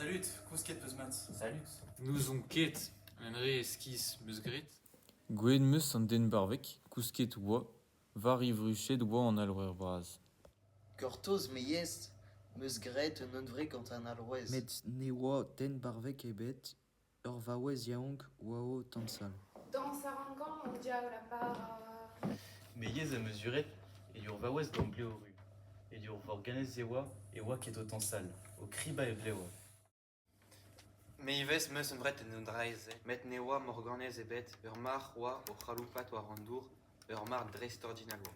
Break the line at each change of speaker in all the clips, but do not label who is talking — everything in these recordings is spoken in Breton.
Salud, kousket 'peus mat. Salud. N'ouzon
ket
un re eskis 'meus graet. Gwelet 'meus
an den barvek, kousket 'oa, war e vruched 'oa an alc'houer bras. Gortoz
me yes, 'meus graet un unvre gant an alc'houez. Met ne oa
den barvek ebet, Ur vaouez yaouank oa o tansal. Dañs a ran gant an
diaoul a bara.
Me yezh am eus uret e ur vaouez gant blev ru. E ur vorganez e oa e oa ket o tansal, o kribañ e vlev.
Me ivez 'm eus emret en un draezh-se, met ne oa morganez ebet, ur marc'h oa o c'haloupat war an dour, ur marc'h dreistordinal oa.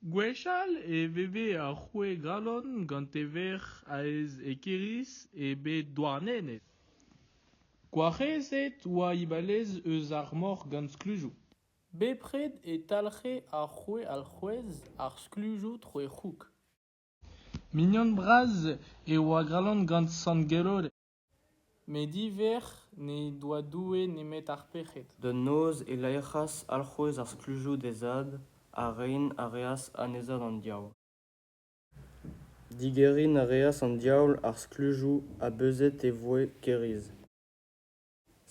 Gwechall e veve ar roue Galon gant e verc'h aes Equerris e bed Douarnenez. Gwarezet oa Ibalez eus ar mor gant sklujoù. Bepred
e talc'he ar roue alc'houez ar sklujoù tro e c'houg.
Mignon bras e oa Galon gant sant Geloded. Met
ivez n'he doa Doue nemet ar pec'hed. Da noz e
laerc'has alc'houez ar sklujoù d'he zad, ha rein a reas anezhañ d'an diaoul. Digeriñ a reas an diaoul ar sklujoù ha beuzet e voe kêriz.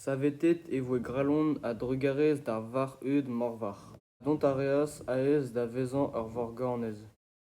Savetet e voe grallon a-drugarez d'ar varc'h-heud moarvat. Dont a reas aes da vezañ ur vorganez.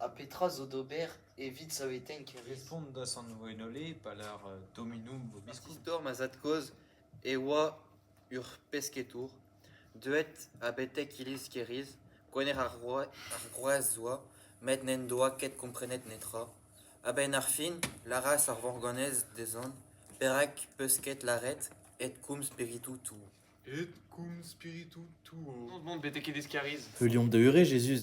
Ha petra zo
d'ober evit saveteiñ kevrez? Respont da sant Gwenole
pa lar Dominum vobiscum. An istor ma zad-kozh
e oa ur pesketour deuet ha betek iliz Keriz. Gwener ar Groazzoa met n'en doa ket komprenet netra. A-benn ar fin lâras ar Vorgonez dezhañ perak 'peus ket lâret Edcum spiritu tuo. Edcum
spiritu tuo. Betek iliz
Keriz. Heuliomp da eure Jezuz.